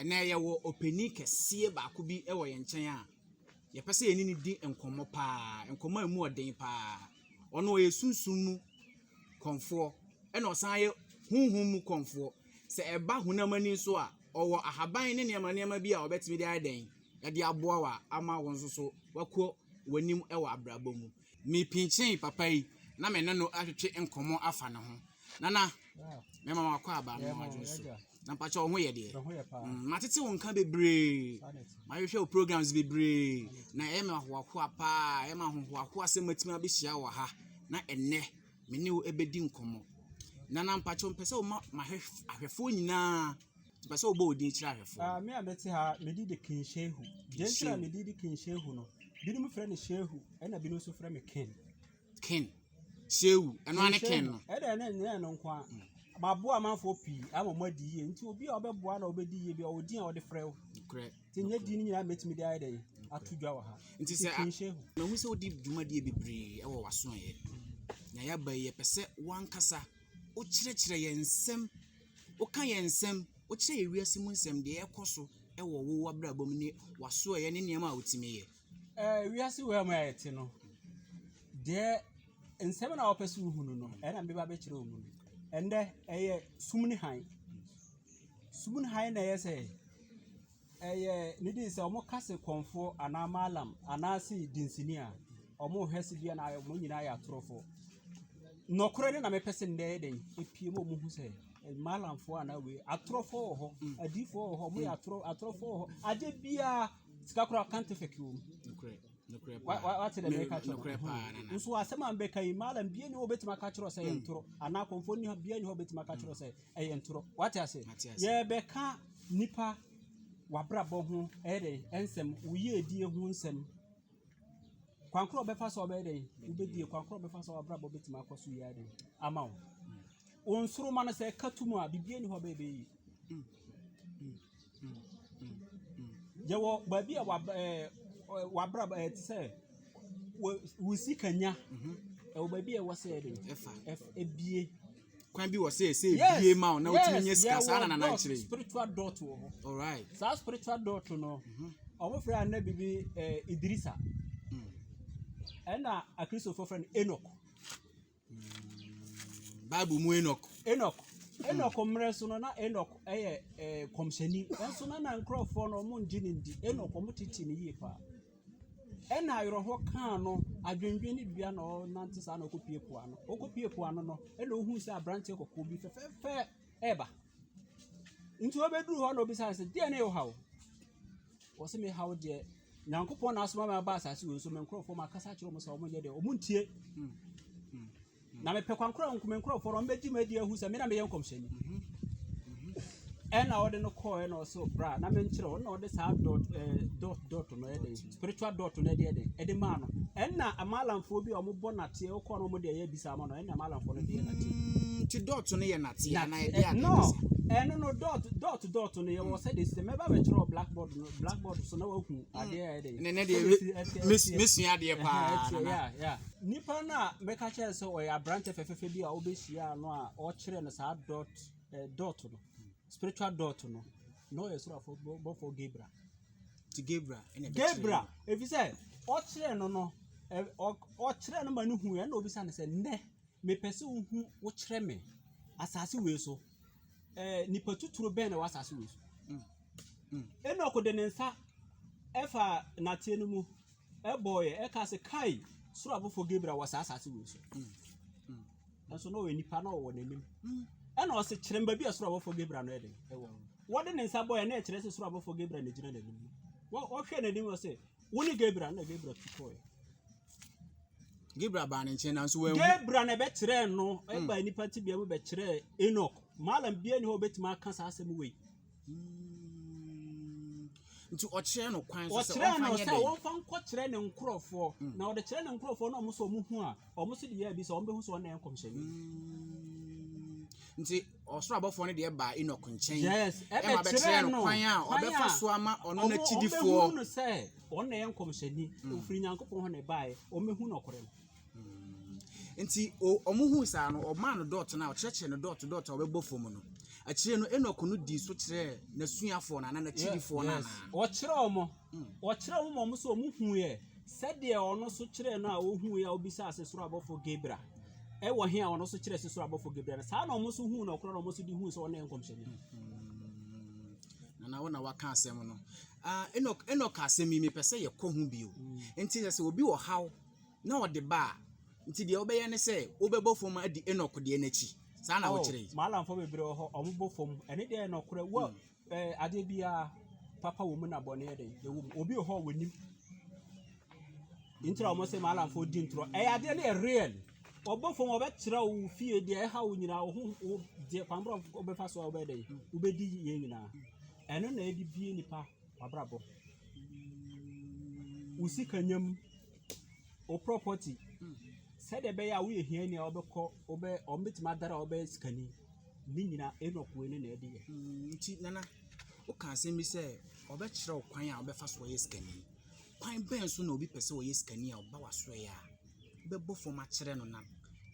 Ɛnnɛ, yɛwɔ ɔpanin kɛseɛ baako bi wɔ yɛn nkyɛn a, yɛpɛ sɛ yɛne no di nkɔmmɔ pa ara, nkɔmmɔ a emu yɛ den pa ara. Ɔno ɔyɛ sunsum mu kɔmfoɔ, ɛnna ɔsan yɛ honhom mu kɔmfoɔ. Sɛ ɛba honam ani nso a, ɔwɔ ahaban ne nneɛma nneɛma bi a ɔbɛtumi de ayɛ dɛn de aboa wo a ama wo nso so woakɔ w'anim wɔ abrabɔ mu. Mepinkyinii papa yi na me ne no atwetwe nkɔmmɔ afa ne ho. Nana, mɛma wakɔ aba no adwene so. Na mpakyɛ wo ho yɛ deɛ. Mm, matete wo nka bebree. Mahwehwɛ wo programs bebree. Na ɛyɛ me ahoahoa paa. Ɛyɛ me ahohoahoa sɛ matumi abɛhyia wɔ ha. Na ɛnnɛ, me ne wo ɛbɛdi nkɔmmɔ. Nana, mpakyɛ wo mpɛ sɛ woma mahwɛ ahwɛfoɔ nyinaa Ɔpɛ sɛ ɔbɔ wo din kyerɛ ahwɛfoɔ no. Ah, me a mete ha, medi de King Shehu. Deɛ nti na medi de King Shehu no, binom frɛ no Shehu, ɛna binom nso frɛ me King. King. Shehu, ɛno ane King no. Ɛdɛ ɛna ɛnyɛ ɛno nko a. Mm. Maboa amanfoɔ pii ama mo adi yie. Nti obi a ɔbɛboa na ɔbɛdi yie bi a ɔwɔ din a ɔde frɛ wo. Korɛ. Nti nyɛ din no nyinaa mɛtumi de ayɛ dɛn ato dwa wɔ ha. Nti sɛ King Shehu. Mahu sɛ wodi dwumadie bebree wɔ w'asoɛeɛ. Na yɛaba yi yɛpɛ sɛ wankasa wokyerɛkyerɛ yɛn nsɛm Woka yɛn nsɛm, wokyerɛ yɛn wiase mu nsɛm, deɛ ɛrekɔ so wɔ wo w'abrabɔ mu ne w'asoɛeɛ ne nneɛma a wotumi yɛ. Eh, wiase wei a mu a yɛte no, deɛ nsɛm na wɔpɛ sɛ wohunu no, ɛna meba bɛkyerɛ wɔn mu no. Ɛndɛ, ɛyɛ sum ne hann. Sum ne hann na ɛyɛ sɛ Ɛyɛ ne din sɛ wɔn ka se kɔmfoɔ anaa maalam anaa se dinsini a wɔn hwɛ se bi anaa wɔn nyinaa yɛ atorofo. Nɔkorɛ ne na mepɛ se nnɛ yɛ dɛn epie mu wɔn hu sɛ eh, maalamfoɔ anaa wei atorofo wɔ hɔ, mm. adiifo wɔ hɔ, wɔn yɛ mm. atoro atorofo wɔ hɔ. Ade biara sika koraa kante fɛki wɔn. Nɔkorɛ. Nɔkorɛ paa. Wate dɛ mɛka kyerɛ. Nɔkorɛ paa nana. Mm. Nso asɛm a mbɛka yi maalam bie ne hɔ betuma ka kyerɛ sɛ yɛ ntoro anaa kɔmfoɔ ne bie ne hɔ betuma ka kyerɛ sɛ ɛyɛ ntorɔ. Wate ase? Mate ase. Yɛrebɛka nipa w'abrabɔ ho ɛyɛ dɛ ɛnsɛm wo yiedie ho nsɛm. Kwan korɔ ɔbɛfa so ɔbɛyɛ dɛ wobɛdie kwan korɔ ɔbɛfa so w'abrabɔ bɛtumi akɔ so yie dɛ ama wo. Wo nsoroma no sɛ ɛka to mu a biribiara ni hɔ bɛyɛ bɛyɛ yie. Yɛwɔ baabi a w'ab ɛɛ w'abrabɔ ɛɛ te sɛ wo wo sikanya. Ɛwɔ baabi a ɛwɔ sɛ ɛde ɛfa ɛf ebue. Kwan bi wɔ sɛ ɛsɛ ebue ma wo na wotumi nya sika saa na Nana kyerɛ yi. Yes, yɛwɔ dɔɔso spiritual dɔɔt wɔ hɔ. Ɔraet. Saa spiritual dɔɔt no, ɔmo frɛ anabi bi ɛɛ Idirisa. Ɛna Akristofoɔ frɛ no Enɔk. Bible mu Enoch. Enoch. Enoch mmerɛ so no na Enoch yɛ ɛɛ kɔmhyɛni nso na na nkurɔfoɔ no wɔn ngye ne ndi Enoch wɔn tete ne yie paa ɛna ayerɛhɔ kaa no adwendwen ne dua na ɔnante saa na ɔkɔ pie po ano ɔkɔ pie po ano no ɛna ohun sɛ aberanteɛ kɔkɔɔ bi fɛfɛɛfɛ ɛɛba nti ɔbɛduru hɔ na ɔbisa sɛ deɛ ne yɛ ɔhaw wɔsi mi haw deɛ. Nyankopɔn na asoma me aba asase wei so, me nkurɔfoɔ makasa akyerɛ wɔn sɛ wɔn nyɛ deɛ, wɔn ntie. Hmm. Hmm. Na mepɛ kwankora nko me nkurɔfoɔ no, wɔn bɛgye me adi ahu sɛ me na meyɛ nkɔmhyɛni. Hmm. Ɛna ɔde no kɔɔ ɛna ɔso bra na menkyerɛ ɔno na ɔde saa dot eh, dot dot no ɛde spiritual dot no ɛde ɛde ɛde maa no ɛna amalamfoɔ bi a wɔn bɔ nateɛ ɔkɔɔ no wɔn de ɛyɛ bisa ama no ɛna amalamfoɔ no de yɛ nateɛ. ti dot no yɛ nateɛ na ɛde eh, ade no ɛno no dot dot dot no yɛ wɔ sɛ de sɛ mɛba bɛkyerɛ wɔ blackboard no. blackboard so na wahu mm. adeɛ a ɛdɛ ne ne deɛ mesua adeɛ paa nana nipa no a mɛka kyerɛ sɛ ɔyɛ aberante fɛfɛfɛ bi a wobɛhyia no a ɔkyerɛ no saa dot eh, dot no spiritual dot no na ɔyɛ sorafo bɔfo gabra ti gabra gabra ɛfisɛ ɔkyerɛ no no ɔkyerɛ no ma no hu ɛna obisa no sɛ nnɛ Mepɛ sɛ wohu wokyerɛ me asase wei so ɛɛ nipa tuturo bɛn na ɛwɔ asase wei so. Enok de ne nsa ɛfa nateɛ no mu ɛbɔɔyɛ ɛka sɛ kai soro abɔfo Gabriel wɔ saa asase wei so. Nso na ɔyɛ nipa na ɔwɔ n'anim. Ɛna ɔsɛ kyerɛ mba bi a soro abɔfo Gabriel no ɛde ɛwɔ. Wɔde ne nsa bɔɔyɛ na ɛkyerɛ sɛ soro abɔfo Gabriel na egyina n'anim. Wɔhwɛ n'anim ɔsɛ Wo ne Gabriel na Gabriel tu kɔɛ. Gabriel baa ne nkyɛn nanso wɔn. Gabriel na ɛbɛkyerɛɛ no ɛba hmm. nipa ti bia mu bɛkyerɛɛ Enoch maalam bia ni hɔ obetumi aka saa asɛm wei. Hmm. nti ɔkyerɛ no kwan so sɛ ɔmfa nyɛ dɛ ɔkyerɛ no sɛ nkɔ kyerɛ ne nkorɔfoɔ hmm. na ɔde kyerɛ ne nkorɔfoɔ na ɔmo sɛ ɔmo hu a ɔmo so de yɛ abi sɛ ɔmo bɛhu sɛ ɔna yɛ nkɔmhyɛni nti ɔsoro abɔfoɔ no deɛ baa Enoch nkyɛn yes, ɛma bɛkyerɛɛ no kwan a ɔbɛfa so ama ɔno n'akyidifoɔ ɔbɛhu no sɛ ɔno na ɛyɛ nkɔmhyɛni hmm. ɔfiri nyankopɔn hɔ na ɛbaeɛ ɔmɛhu nɔkorɛ no hmm. nti ɔmo hu saa no ɔmaa no dɔɔto no a ɔkyerɛkyerɛ no dɔɔto dɔɔto a ɔbɛbɔ fam no akyire no Enoch no dii so kyerɛɛ n'asuafoɔ no ana n'akyidifoɔ no ana ɔkyerɛ ɔmo Wɔkyerɛɛ ho ma wɔn sɛ wɔhuiɛ sɛdeɛ ɔno nso kyerɛɛ no a ɔhuiɛ a ɔbisaa se soro abɔfoɔ Gabriel ɛwɔ he a ɔno nso kyerɛɛ se soro abɔfoɔ Gabriel no saa na wɔn nso huu no ɔkorɔ na wɔn nso de huu sɛ ɔno yɛ nkɔmhyɛni. Nana wo na waka asɛm no. Ah, Enoch, Enoch asɛm yi mepɛ sɛ yɛkɔ ho bio. Nti sɛ sɛ obi wɔ haw na ɔde ba a, nti deɛ wobɛyɛ ne sɛ wobɛbɔ fam adi Enoch deɛ n'akyi. Saa na wokyerɛ yi. Maalamfoɔ bebree wɔ hɔ, wɔbɔ fam. Ɛne deɛ yɛ nɔkorɛ. Wo a Ɛɛ, adeɛ biara, papa wɔ mu na bɔne yɛ dɛn? Ɛwɔ mu. Obi wɔ hɔ a wɔnim. Nti na wɔn sɛ maalamfoɔ di ntorɔ. Ɛyɛ adeɛ no yɛ real. Wɔbɔ fam wɔbɛkyerɛ wo wo fie deɛ ɛha wo nyinaa wo ho wo deɛ kwanbrɔ wɔbɛfa so a wobɛyɛ dɛn? Wobɛdi yɛ nyinaa. Ɛno na ɛde bie nipa wabrabɔ. Wo sika nya mu, wo property, sɛdeɛ ɛbɛyɛ a woyɛ hiani a wobɛkɔ wobɛ wɔn bɛtumi adara a wɔbɛyɛ sikani. Ne nyina Enoch wei no na ɛde yɛ. Mm, nti nana woka asɛm bi sɛ ɔbɛkyerɛ wo kwan a wobɛfa so ɔyɛ sikani. Kwan bɛn so na obi pɛ sɛ ɔyɛ sikani a ɔba wasoɛ a bɛbɔ fam akyerɛ no na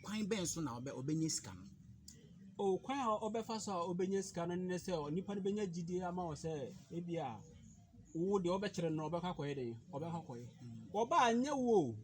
kwan bɛn so na ɔbɛ ɔbɛnya sika no? O kwan a ɔbɛfa so a ɔbɛnya sika no ne sɛ onipa no bɛnya gyidie ama wɔ sɛ ebi a wo deɛ ɔbɛkyerɛ no ɔbɛkɔ akɔyɛ den ɔbɛkɔ akɔyɛ. Wɔba anyɛ wo o.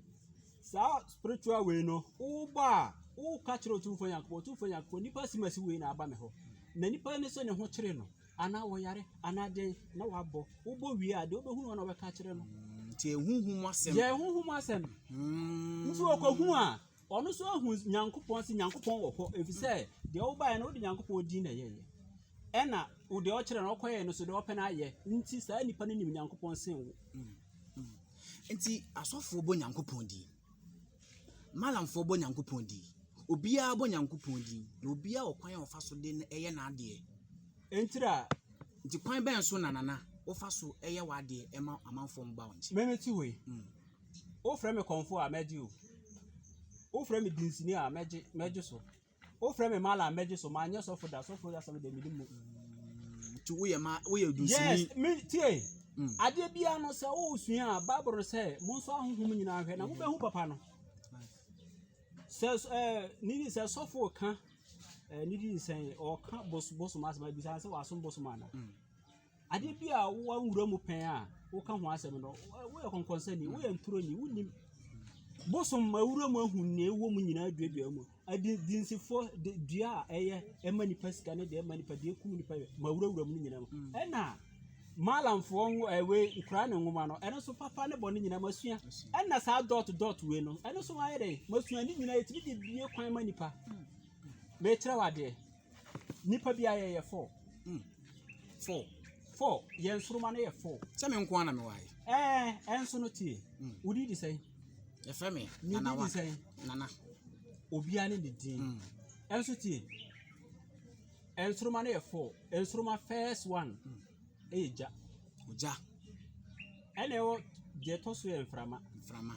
Saa spiritual wei no, wobɔ a, woka kyerɛ Otumfoɔ Nyankopɔn, Otumfoɔ Nyankopɔn, nipa si masi wei na aba me hɔ. Na nipa no sɛ ne ho kyere no, anaa wɔyare, anaa den, na wabɔ. Wobɔ wie a, deɛ wobɛhunu hɔ na wobɛka kyerɛ no. Nti ɛhuhu mu asɛm. Yɛ ɛhuhu mu asɛm. Mm. Nti ɔkɔhu a, ɔno nso ahu Nyankopɔn sɛ Nyankopɔn wɔ hɔ, ɛfiri sɛ deɛ wobaeɛ no wode Nyankopɔn din na ɛyɛeɛ. Ɛna deɛ ɔkyerɛ no ɔkɔyɛɛ no so deɛ ɔpɛ no ayɛ. Nti saa nipa no nim Nyankopɔn sen wo. Mm. Nti asɔfoɔ bɔ Nyankopɔn din, malamfoɔ bɔ Nyankopɔn din, obiara bɔ Nyankopɔn din, na obiara wɔ kwan a ɔfa so de yɛ n'adeɛ. Ntira. Nti kwan bɛn so na nana wofa so yɛ w'adeɛ ɛma amanfoɔ mba wo nkyɛn? Mɛmɛ ti wei. Mm. Wofrɛ me kɔmfo a mɛgye o. Wofrɛ me dinsini a mɛgye mɛgye so. Wofrɛ me mala mɛgye so ma nyɛ sɔfo da sɔfo asɛm de mede mu. Ti woyɛ ma woyɛ dusini. Yes, me tie. Mm. Adeɛ biara no sɛ wosua a Bible no sɛ monso ahohom nyinaa hwɛ na mobɛhu papa no. Sɛ ɛɛ ne di sɛ sɔfo ka ɛɛ ne di sɛ ɔka bos bosom asɛm a bisa sɛ wasom bosom ana. Mm. Ade bi a wɔnwura mu pɛn a woka ho asɛm no, woyɛ kɔnkɔnsani, woyɛ ntoroni, wonim. Bosom ma wura mu ahu nea ɛwɔ mu nyinaa duadua mu. Adinsifoɔ dua a ɛyɛ ɛma nipa sika ne deɛ ɛma nipa deɛ ɛkum nipa ma wurawura mu no nyinaa mu. Mm. Ɛna maalamfoɔ nwo ɛwe nkura ne nwoma no ɛno nso papa ne bɔ ne nyinaa masua. Ɛna saa dɔt dɔt wei no ɛno nso ayɛ dɛ masua ne nyinaa ɛtumi de bie kwan ma nipa. Mm. Mɛkyerɛ wadeɛ. Nipa bi ayɛ yɛ four. Mm. Four. Four. Yɛn soroma no yɛ four. Sɛ me nko ara na me wae. Ɛɛ, ɛnso no tie. Mm. Wodi di sɛn? Yɛfrɛ me Nana wa. Sɛn? Nana. Obiara ne ne din. Mm. Ɛnso tie. Ɛnsoroma no yɛ four. Ɛnsoroma first one. Mm. Ɛyɛ gya. Ogya. Ɛna ɛwɔ deɛ ɛtɔ so yɛ mframa. Mframa.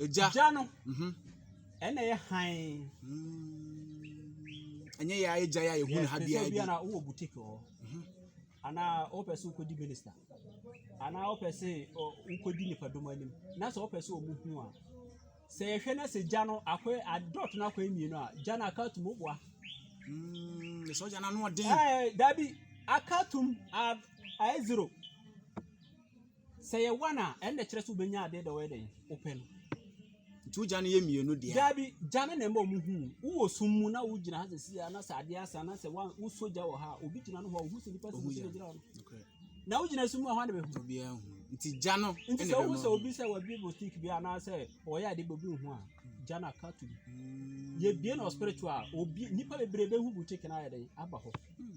Egya. Gya no. Mhm. Ɛna yɛ hann. Ɛnyɛ yɛ ayɛ gya yɛ a yɛhu no ha Yes, te sɛ biara bi bi. a na wowɔ boutique wɔ hɔ. Anaa wopɛ sɛ wokɔdi minister. Anaa wopɛ sɛ ɔ- wokɔdi nipadɔm anim. Na sɛ wopɛ sɛ ɔmu hu a. Sɛ yɛhwɛ na sɛ gya no akɔyɛ adɔt no akɔyɛ mmienu a, gya no aka atum woboa. Mm, Ɛsɛ ɔgya no ano ɔden. Ɛɛ, dabi aka atum a- ayɛ zero. Sɛ yɛ one a, ɛnna kyerɛ sɛ wobɛnya adeɛ dɛ wɔyɛ dɛn wopɛ no. Nti wogya no yɛ mmienu deɛ. Daabi, gya no na ɛma ɔmo hu. Wowɔ sum mu na wogyina ha sɛsi a na sɛ adeɛ asa na sɛ wosɔ gya wɔ ha a, obi gyina no hɔ a ohu sɛ nipa sɛ obi na gyina hɔ no. Na wogyina sum mu a hwan na bɛhu? Obiara hu. Nti gya no Nti sɛ wohu sɛ obi sɛ wabi bostik bi anaasɛ ɔyɛ adeɛ bi obi nhu a, gya no aka to bi. Mm. Yɛbie no spiritual a, obi, nipa bebree bɛhu boutique no ayɛ dɛn aba hɔ. Mm.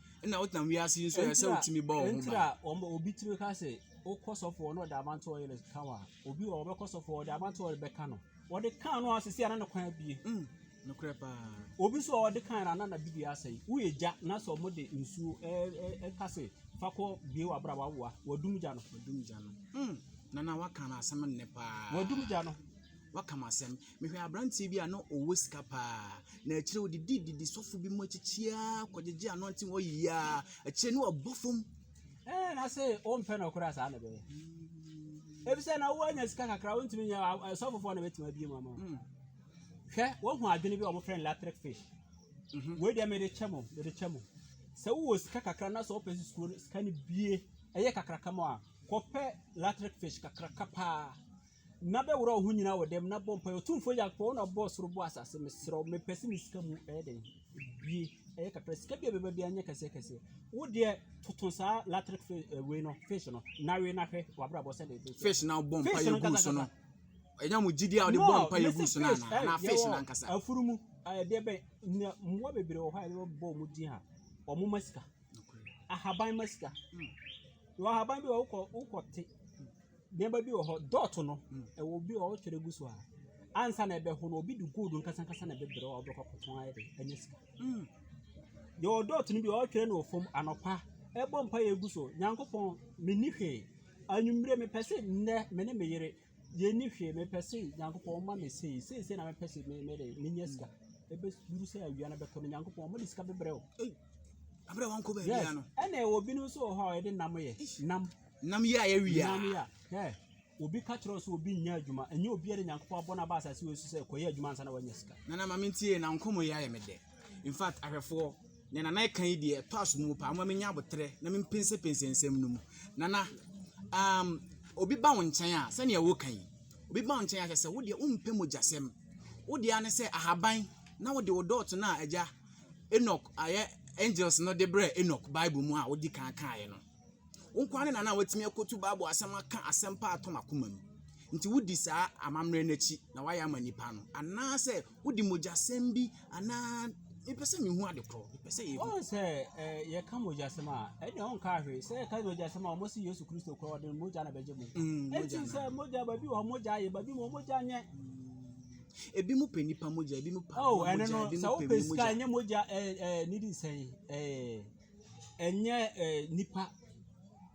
Ɛna wotenam wiase yi nso ɛyɛ sɛ wotumi bɔ wɔn ho ban. a wɔn obi tiri ka sɛ wokɔ sɔfo hɔ na ɔde amante ɔyere ka wa obi wɔ ɔbɛkɔ sɔfo hɔ ɔde amante ɔyere bɛka no ɔde kan no asese ana ne kwan abie. Mm, nokorɛ paa. Obi nso a ɔde kan no ana na biribi asɛe woyɛ gya na sɛ ɔmo de nsuo ɛka sɛ fa kɔ bie wɔ abra wawoa wadum gya no. Wadum gya no. Mm, nana waka no asɛm nnɛ paa. Wadum gya no. Waka mo asɛm. Mehwɛ aberanteɛ bi a na ɔwɔ sika paa, na akyire yi ɔdidi didi sɔfo bi mu akyikyiaa kɔgyegye anointing wɔ yiaa, akyire no wabɔ fam. Ɛɛ na se wompɛ no koraa saa na ɛbɛyɛ. Efisɛ na woanya sika kakra wontumi nyɛ sɔfofoɔ na bɛtumi abie mu ama wo. Hwɛ wohu adwene bi a wɔfrɛ no latric fish. Wei deɛ mede kyɛ mo, mede kyɛ mo. Sɛ wowɔ sika kakra na sɛ wopɛ sɛ sika no bie ɛyɛ kakraka mu a, kɔpɛ latric fish kakraka paa. na bɛworɔ wo ho nyinaa wɔ dɛm na bɔ mpaeɛ ɔtumfoɔ nyankopɔn wo na ɔbɔɔ soro bɔ asase mesrɛ wo mepɛ sɛ me sika mu ɛyɛ dɛn bie ɛyɛ kakra sika bi a bɛba bia nyɛ kɛseɛ kɛseɛ wo deɛ toto saa latric eh, wei no fish no na wei na hwɛ wabrabɔ sɛ de fish na wobɔ mpaeɛ gu so no ɛnyɛ mo gyidi a wode bɔ mpaeɛ gu so no anaa na fish na nkasa afuru mu ɛdeɛ bɛn mmoa bebree wɔ hɔ a yɛbɛbɔ ɔmo din ha ɔmo ma sika ahaban ma sika wɔ ahaban bi wɔ wokɔ wokɔ te Nneɛma bi wɔ hɔ, dɔɔto no, ɛwɔ obi a ɔretwɛre gu so a, ansa na ɛbɛho no, obi de gold nkasankasa na ɛbɛbrɛ a ɔbɛkɔ akɔtɔn ayɛ de anya sika. Mm. Yɛwɔ dɔɔto no bi a ɔretwɛre no wɔ fam anɔpa, ɛbɔ mpa yɛ gu so, Nyankopɔn, menni hwee. Anwummere mepɛ se nnɛ me ne me yere yɛnni hwee, mepɛ se Nyankopɔn ɔma me sei, sei sei na mepɛ se me me de menya sika. Ɛbɛduru sɛ awia no bɛtɔ no, Nyankopɔn ɔma de sika bɛbrɛ o. Abere wɔn kɔ baabi Yes, ano. ɛna ɛwɔ binom nso wɔ hɔ a yɛde nam yɛ, nam. Nam yi a yɛ wia. Nam yi a hɛ obi ka kyerɛ sɛ obi nyɛ adwuma ɛnyɛ obi yɛ de nyankopɔn abɔ n'aba asase wɔ so sɛ kɔyɛ adwuma ansa na wanya sika. Nana maame ntie na nkɔmɔ yi ayɛ me dɛ in fact ahwɛfoɔ ne nana ɛka yi deɛ ɛtɔ aso mu paa mo menya abotrɛ na me mpensɛpensɛ nsɛm no mu nana um, obi ba wo nkyɛn a sɛnea woka yi obi ba wo nkyɛn a kyɛ sɛ wodeɛ wompɛ mogyasɛm wodeɛ ne sɛ ahaban na wode wo dɔɔto no a agya Enoch ayɛ angels no de brɛ Enoch Bible mu a wodi kan kaeɛ no Wo nko ara ne na na woatumi akotu Bible asɛm aka asɛmpa a atɔ m'akoma mu. Nti wodi saa amammerɛ no akyi na woayɛ ama nnipa no, anaasɛ wode mogyasɛm bi anaa mepɛ sɛ mehu ade korɔ mepɛ sɛ yɛhu. Ɔn sɛ eh, yɛka mogyasɛm a ɛnna ɔnka ahwɛ sɛ yɛka mogyasɛm a wɔsi Yesu Kristo korɔ ɔde mogya na bɛgye mu. Mm, mogya Ɛnti na. sɛ mogya baabi wɔ hɔ mogya ayɛ baabi mu mogya nyɛ. Ebi mo pɛ nipa mogya, ebi mo pɛ Oh, aboa ɛno mogya, no ebi sɛ mo pɛ wopɛ emu sika mogya. ɛnyɛ mogya eh, eh, nidi nsɛn eh, Ɛnyɛ eh, nipa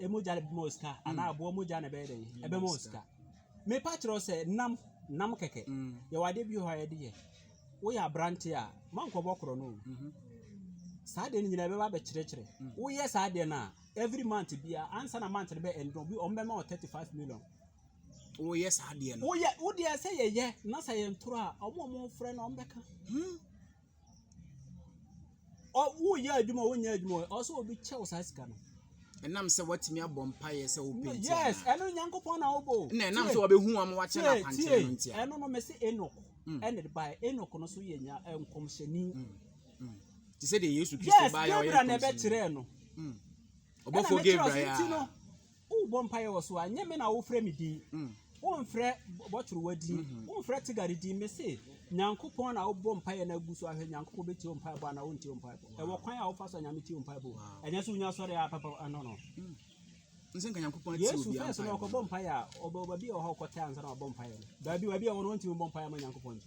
mogya na ɛbɛma wo sika hmm. anaa aboa mogya na ɛbɛyɛ dɛn ɛbɛma wo sika mepa kyerɛ sɛ nam nam kɛkɛ hmm. yɛwɔ adeɛ bi hɔ a yɛde yɛ woyɛ aberante a mankɔbɔ korɔ no mhm. saa deɛ no nyinaa ɛbɛba bɛkyerɛkyerɛ hmm. woyɛ saa deɛ no a every month bia ansa na month no bɛ ɛndɔ bi ɔmo bɛma wɔ thirty five million woyɛ saa deɛ no woyɛ wodeɛ sɛ yɛyɛ na sɛ yɛntoro a ɔmo ɔmo frɛ no ɔmo bɛka woyɛ adwuma o wonyɛ adwuma o ɔsɛ obi kyɛ wo saa sika no. ɛnam sɛ watumi abɔ mpaeɛ sɛ wopenti yes ɛno nyankopɔn na wobɔ o na ɛnam sɛ wɔbɛhu wɔn wakyɛ no akwankyerɛ no ntia ɛno no mese enok mm. ɛne de baɛ enok no so yɛ nya nkɔmhyɛni mm. mm. te sɛ deɛ yesu kristo baeɛ ɔyɛ nkɔmhyɛni yes gabriel na ɛbɛkyerɛɛ no ɔbɔfoɔ gabriel a Wobɔ mpaeɛ wɔ so a, nyɛ me na wofrɛ me din. Womfrɛ bɔtorowa din, womfrɛ tigari din. Mese, Nyankopɔn na wobɔ mpaeɛ na agu so ahwɛ. Nyankopɔn bɛtie wo mpaebɔ anaa ɔntie wo mpaebɔ? Ɛwɔ kwan a wofa so a Nyame tie wo mpaebɔ o. Ɛnyɛ sɛ wonya sɔre a papa ah no no. Yesu first no ɔkɔbɔ mpaeɛ a, ɔbɛwɔ baabi a ɔwɔ hɔ a ɔkɔtɛ ansa na wabɔ mpaeɛ no. Baabi baabi a ɔwɔ no, ɔntumi mmɔ mpaeɛ mma Nyankopɔn nti.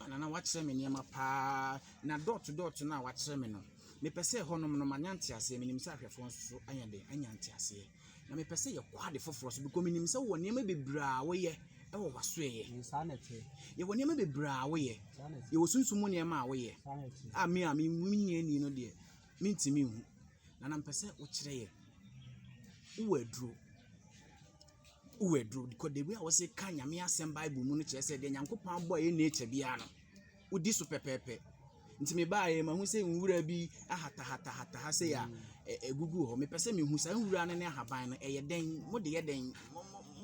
Anana woakyerɛ me nneɛma paa na dot dot no a woakyerɛ me no mepɛ sɛ ɛhɔnom no manya nteaseɛ. Menim sɛ ahwɛfoɔ nso so anya dɛn? Anya nteaseɛ. Na mepɛ sɛ yɛkɔ ade foforɔ so because menim sɛ wowɔ nneɛma bebree a woyɛ wɔ w'asoɛeɛ. Mm, saa na ɛteɛ. Yɛwɔ nneɛma bebree a woyɛ. Saa na ɛteɛ. Yɛwɔ sunsum mu nneɛma a woyɛ. Saa na ɛteɛ. A me a me menni ani no deɛ mentumi nhu. Nana mepɛ sɛ wokyerɛ yɛ. Wowɔ aduro. Wo aduro kɔ the way a wɔsɛ ka nyame asɛm bible mu no kyerɛ sɛ deɛ nyankopɔn abɔ a ɛyɛ nature biara no wodi so pɛpɛɛpɛ nti mebaeɛ mahu sɛ nwura bi ahatahatahatah ha sei a ɛgugu hɔ mepɛ sɛ mehu saa nwura no ne ahaban no ɛyɛ dɛn mode yɛ dɛn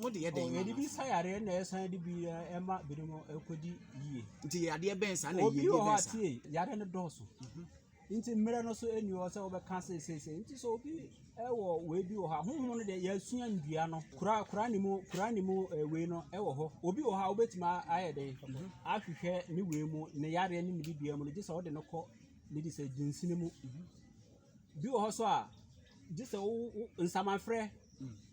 mode yɛ dɛn yɛde bi sa yareɛ na ɛsan de bi ɛma binom ɛkɔdi yie nti yadeɛ bɛn saa na yie bɛn saa yareɛ no dɔɔso mhm. Nti mmerɛ no so nni hɔ sɛ wobɛka se seesei. Nti sɛ obi wɔ wei bi wɔ hɔ a, honhom no deɛ yɛasua nnua no. Kura kura ne mu kura ne mu eh, wei no wɔ hɔ. Obi wɔ hɔ a wobɛtumi ayɛ dɛn mhm. ahwehwɛ ne wei mu ne yareɛ ne ne bibia mu no gye sɛ wode no kɔ ne de sɛ dunsini mu. Mhm. Bi wɔ hɔ so a gye sɛ wo nsamanfrɛ mm.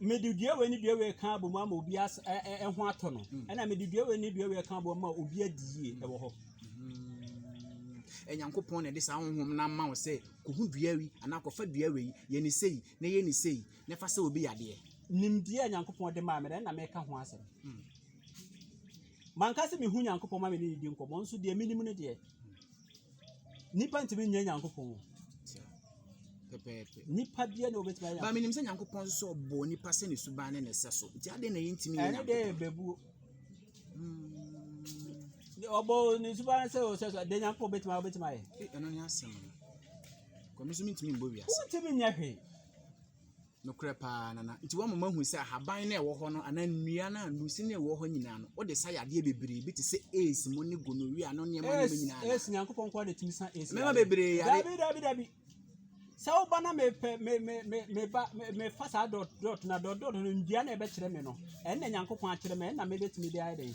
mede dua wei ne dua wei ka abɔ mu ama obi ɛho atɔ no mm. ɛna mede dua wei ne dua wei ka abɔ mu ama obi adi yie mm. ɛwɔ hɔ ɛnyankopɔn mm. na ɛde saa honhom no ama wo sɛ kɔhu dua wi anaa kɔfa dua wei yɛ ne sei na yɛ ne sei na ɛfa sɛ obi yadeɛ nimdeɛ a nyankopɔn de maa me dɛ na meka ho asɛm manka sɛ mehu nyankopɔn ma me ne ne di nkɔmmɔ nso deɛ menim no deɛ Nnipa ntumi nyɛ Nyankopɔn. Pɛpɛɛpɛ. Nnipa bia na obetumi ayɛ. Ba menim sɛ Nyankopɔn nso sɛ ɔbɔ nipa sɛ ne suban ne ne sɛ so. Nti adɛn na yɛntumi nyɛ Nyankopɔn? Ɛne dɛ bebuo. Ɔbɔ hmm. ne suban sɛ ɔsɛ so. Dɛ Nyankopɔn betumi ayɛ obetumi ayɛ. Ɛno ne asɛm no. Kɔmi so mentumi mbɔ wiase. Wontumi nyɛ hwee. Nokorɛ paa, na na, nti wama moahu sɛ ahaban no a ɛwɔ hɔ no, anaa nnua no a, nnusi no a ɛwɔ hɔ nyinaa no, wode sa yadeɛ bebree bi te sɛ AIDS mu ne gonorrhea no nneɛma nneɛma nyinaa anaa? Yes, Nyankopɔn nkoa na ɛtumi sa AIDS Mmarima yadeɛ. bebree yare. Dabi, dabi, dabi. Sɛ woba na mepɛ, me, me, me, meba, me, mefa saa dot, dot na dot, dot no, nnua na ɛbɛkyerɛ me no, ɛnna Nyankopɔn akyerɛ me, ɛnna mebɛtumi de ayɛ dɛn?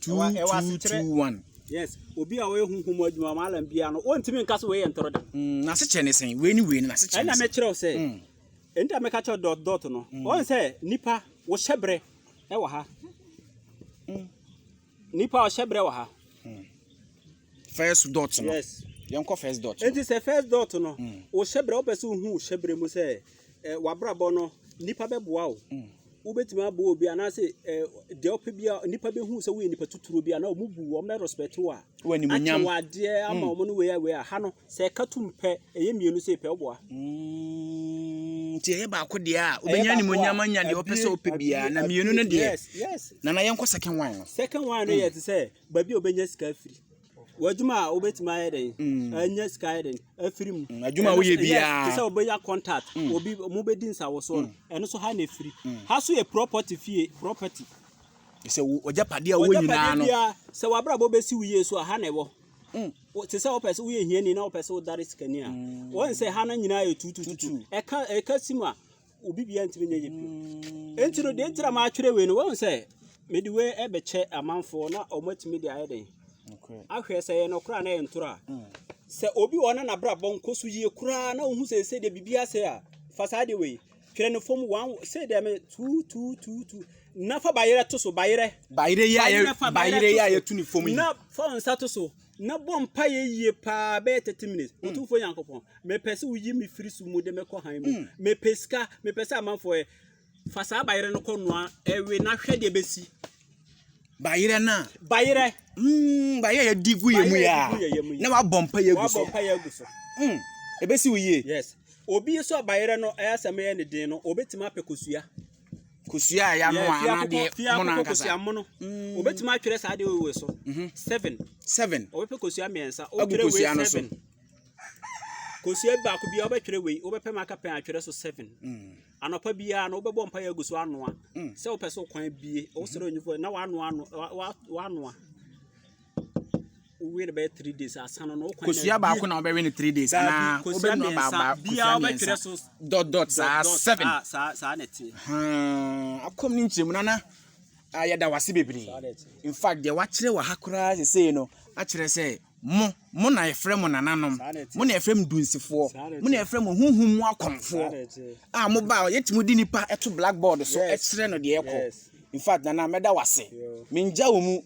Ɛwɔ ɛwɔ two asekyerɛ. two one. Yes, obi a ɔyɛ huhu mu adwuma ma alam biara no, wɔntumi nka sɛ wei yɛ ntoro da. Mm, n'asekyerɛ ne sɛn? Wei ne wei no n'asekyerɛ ne Ɛna sɛn? mɛkyerɛw sɛ, Mm. ɛnti a mɛka kyerɛw dot dot no, wɔn sɛ nipa wɔhyɛ brɛ ɛwɔ ha. Nipa ɔhyɛ brɛ wɔ ha. First dot no. Yes. Yɛnkɔ first dot no. Ɛnti sɛ first dot no, wɔhyɛ brɛ, wopɛ sɛ wohu hyɛ brɛ mu sɛ, ɛ, w'abrabɔ no, nipa bɛboa wo. wobɛtumi aboa obi anaasɛ eh, deɛ ɔpɛ bi a nnipa bɛhu sɛ woyɛ nipa titiriw bi a na wɔn bu wɔn respect wo a akyɛ wɔ adeɛ ama wɔn no wei a wei a ha no sɛ ɛka tum pɛ ɛyɛ mmienu sɛ pɛ ɔboa mm, nti ɛyɛ baako deɛ a wobɛnya animonyam anya deɛ ɔpɛ sɛ ɔpɛ biara na mmienu no deɛ nana yɛnkɔ second one no second one no yɛ te sɛ baabi a wobɛnya sika afiri W'adwuma a wobɛtumi ayɛ dɛn mm. ɛnyɛ sika yɛ dɛn afiri mu mm, adwuma woyɛ biara te sɛ wobɛnya contact mm. obi mo bɛdi nsawosoɔ no ɛno so ha na ɛfiri ha so yɛ property fie property sɛ ɔgya padeɛ a wɔ nyinaa no sɛ wabrabɔ bɛsi wo yie so a ha na ɛwɔ te sɛ wopɛ sɛ woyɛ hiani na wopɛ sɛ wodare sikani a wɔn sɛ ha no nyinaa yɛ tutututu ɛka ɛka sim a obi bia ntumi nyɛ yɛ bio enti no deɛ nti na maatwerɛ wei no wɔn sɛ mede wei ɛbɛkyɛ amanfoɔ na wɔn atumi de ayɛ den ahwɛ sɛ yɛ nɔkorɔ a na yɛ ntorɔ a mm. sɛ obi wɔ na n'abrabɔ nkɔ so yie koraa na ohun sɛ sɛ deɛ biribi asɛ a fa saa deɛ wei twerɛ no fam wɔn sɛ deɛ me tuu tuu tuu tuu na fa bayerɛ to so bayerɛ bayerɛ yi a yɛ bayerɛ yi a yɛtu ne fam yi na fa wɔn nsa to so na bɔ mpaeɛ yie paa bɛyɛ 30 minutes hmm. ɔtumfoɔ nyankopɔn mepɛ sɛ woyi me firi so mu de mɛkɔ han mu hmm. mepɛ sika mepɛ sɛ amanfoɔ ɛ fa saa bayerɛ no kɔnoa ɛwe na hwɛ deɛ bɛsi bayerɛ no a bayerɛ hmm, bayerɛ yɛdi gu yɛ mu yɛ a na wabɔ mpaeɛ agu so wabɔ mpaeɛ agu so ɛbɛsi wo yie yes obi nso a bayerɛ no ɛyɛ asɛm yɛ ne den no ɔbɛtumi apɛ kosua kosua a yɛanoa anaa deɛ mono ankasa mm. obɛtumi atwerɛ saa deɛ ɔwɔ so mhm. seven seven ɔbɛpɛ kosua mmiɛnsa wotwerɛ wei seven kosua baako biara wobɛtwerɛ wei wobɛpɛ ma aka pɛn atwerɛ so seven mm. anɔpa biara no wobɛbɔ mpa yɛ agu so anoa mm. sɛ wopɛ sɛ wokwan bie wosrɛ onyifo na wanoa wanoa wowie no bɛyɛ three days asa no na wokwan kosua baako na wobɛwe no three days anaa wobɛnua baaba biara wobɛtwerɛ so dot dot saa seven ah, saa saa na ɛteɛ hmm, akɔm ne nkyerɛmu nana ah, yɛda wase bebree in fact deɛ wakyerɛ wɔ ha koraa sesei no akyerɛ sɛ mo mo na yɛfrɛ mo nananom mo na yɛfrɛ mo dunsifoɔ mo na yɛfrɛ mo huhum mu akɔmfoɔ a ah, mo ba yɛtumi de nipa ɛto blackboard so ɛkyerɛ no deɛ ɛkɔ in fact nana mɛda wase mengya wɔ mu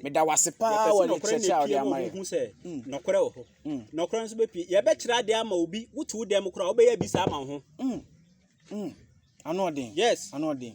Meda wo ase paa wɔ nkyerɛkyerɛ a wode ama yɛn. Mm. Nɔkorɛ wɔ hɔ. Mm. Nɔkorɛ nso bɛpie. Yɛbɛkyerɛ adeɛ ama obi. Wote wo dɛm koraa wobɛyɛ bi saa ama wo ho. Mm. Mm. Ano ɔden. Yes. Ano ɔden.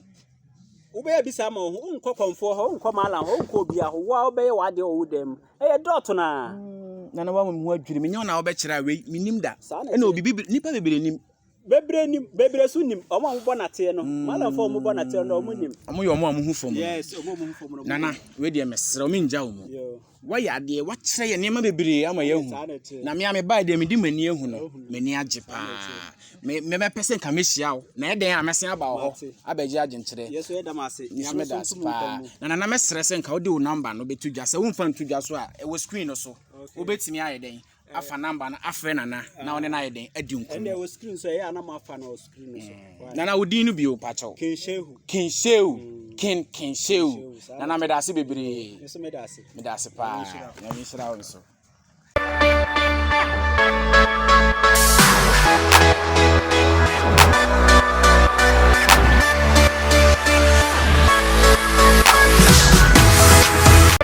Wobɛyɛ bi saa ama wo ho. Wonkɔ kɔmfoɔ hɔ, wonkɔ maalam hɔ, wonkɔ obia hɔ. Wo a wobɛyɛ w'adeɛ wɔ wo dɛm mu. Ɛyɛ dɔɔto naa. Mm. Nana wa mu ho adwiri. Menyɛ wo na wobɛkyerɛ a wei menim da. Ɛna obi nipa bebree nim. Bebree nim, bebree so nim. Ɔmo a ɔmo bɔ nateɛ no. Mm. Malamfo a ɔmo bɔ nateɛ no, ɔmo nim. Ɔmo yɛ ɔmo a ɔmo ho fam. Yes, ɔmo a ɔmo ho fam no. Nana, wei deɛ mesrɛ ɔmo ngya ɔmo. Wayɛ adeɛ, wakyerɛ yɛ nneɛma bebree ama yɛahu. Na me a mebae deɛ mede m'ani ahu no, m'ani agye paa. Me mɛpɛ sɛ nka mehyia wo. Na ɛdɛn a mɛsen aba wɔ hɔ abɛgye adwenkyerɛ. Yɛso yɛda mo ase. Nso meda ase paa. Na nana mɛsrɛ sɛ nka wode wo nɔmba no bɛto dwa. Sɛ womfa nto dwa so a, ɛwɔ screen no so. Wobɛtumi ayɛ dɛn afa namba no afrɛ nana na ɔne no ayɛ dɛn adi nkɔmmɔ wɔ screen so ɛyɛ anam afa no screen no so mm. nana wo din no bio pakyɛw kenshehu kenshehu mm. ken kenshehu nana meda ase bebree mm. meda ase meda ase paa na me nhyira wo nso